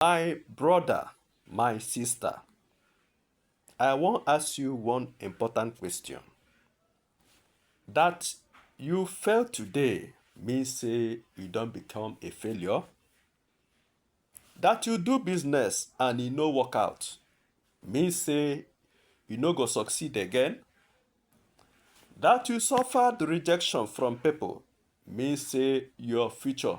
My brother, my sister, I wan ask you one important question. That you fail today mean say you don become a failure? That you do business and e no work out mean say you no go succeed again? That you suffered rejection from people mean say your future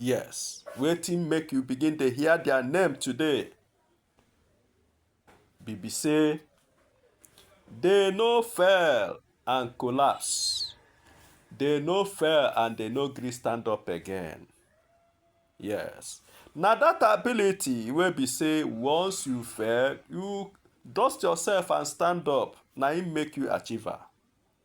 Yes, wetin make you begin dey hear their name today? Be be say they no fail and collapse. They no fail and they no gree stand up again. Yes, na that ability wey be say once you fail, you dust yourself and stand up na im make you achiever.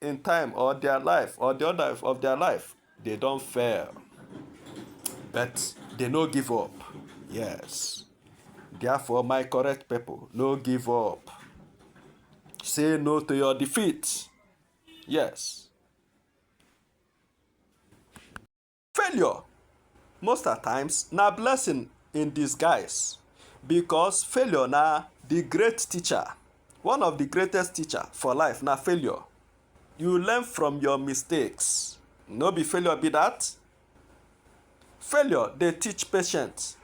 in time or their life or the order of their life they don fail but they no give up yes therefore my correct people no give up say no to your defeat yes Failure most at times na blessing in disguise because failure na the great teacher. One of the greatest teacher for life na failure. You learn from your mistakes. No be failure be that. Failure dey teach patience.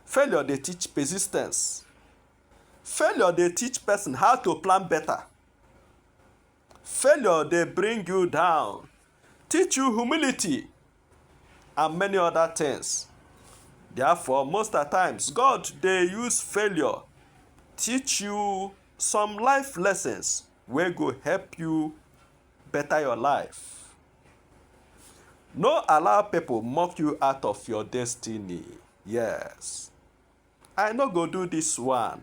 Failure dey teach persistence. Failure dey teach person how to plan better. Failure dey bring you down, teach you humility, and many other things. Therefore, most at times, God dey use failure teach you some life lessons wey go help you better your life. No allow people mock you out of your destiny. Yes, I no go do this one.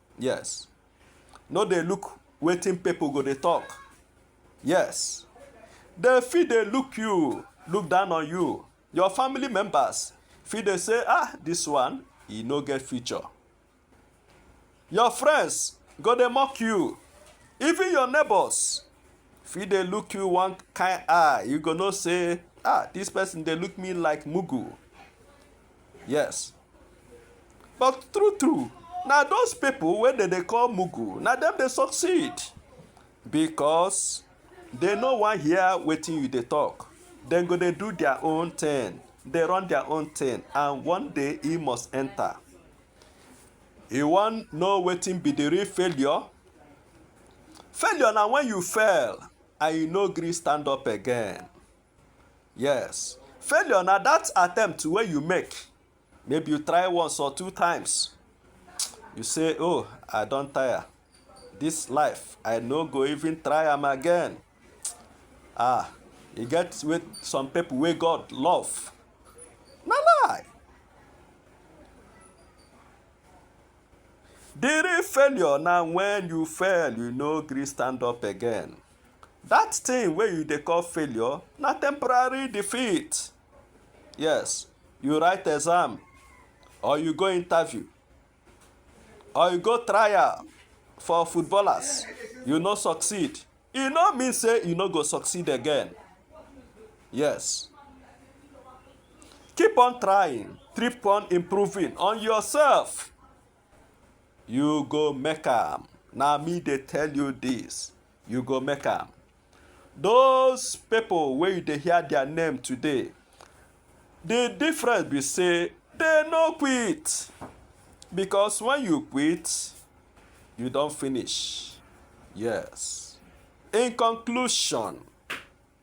yes no dey look wetin people go dey talk yes dem fit dey look you look down on you your family members fit dey say ah this one e no get future your friends go dey mock you even your neighbors fit dey look you one kind eye you go know say ah this person dey look me like mugu yes but true true na those people wey dem dey call mugu na dem dey succeed because they no wan hear wetin you dey talk dem go dey do their own thing dey run their own thing and one day e must enter you wan know wetin be the real failure failure na when you fail and you no gree stand up again Yes. Failure na that attempt wey you make. Maybe you try once or two times. You say, oh, I don tire. This life, I no go even try am again. Ah, e get with some people wey God love. Na lie. The real failure na when you fail, you no gree stand up again. That thing wey you dey call failure na temporary defeat. Yes, you write exam or you go interview or you go trial for footballers, you no succeed, e no mean say you no go succeed again. Yes. Keep on trying, keep on improving on yourself. You go make am. Na me dey tell you this. You go make am. Those people wey you dey hear their name today, the difference be say they no quit. Because when you quit, you don finish. Yes. In conclusion,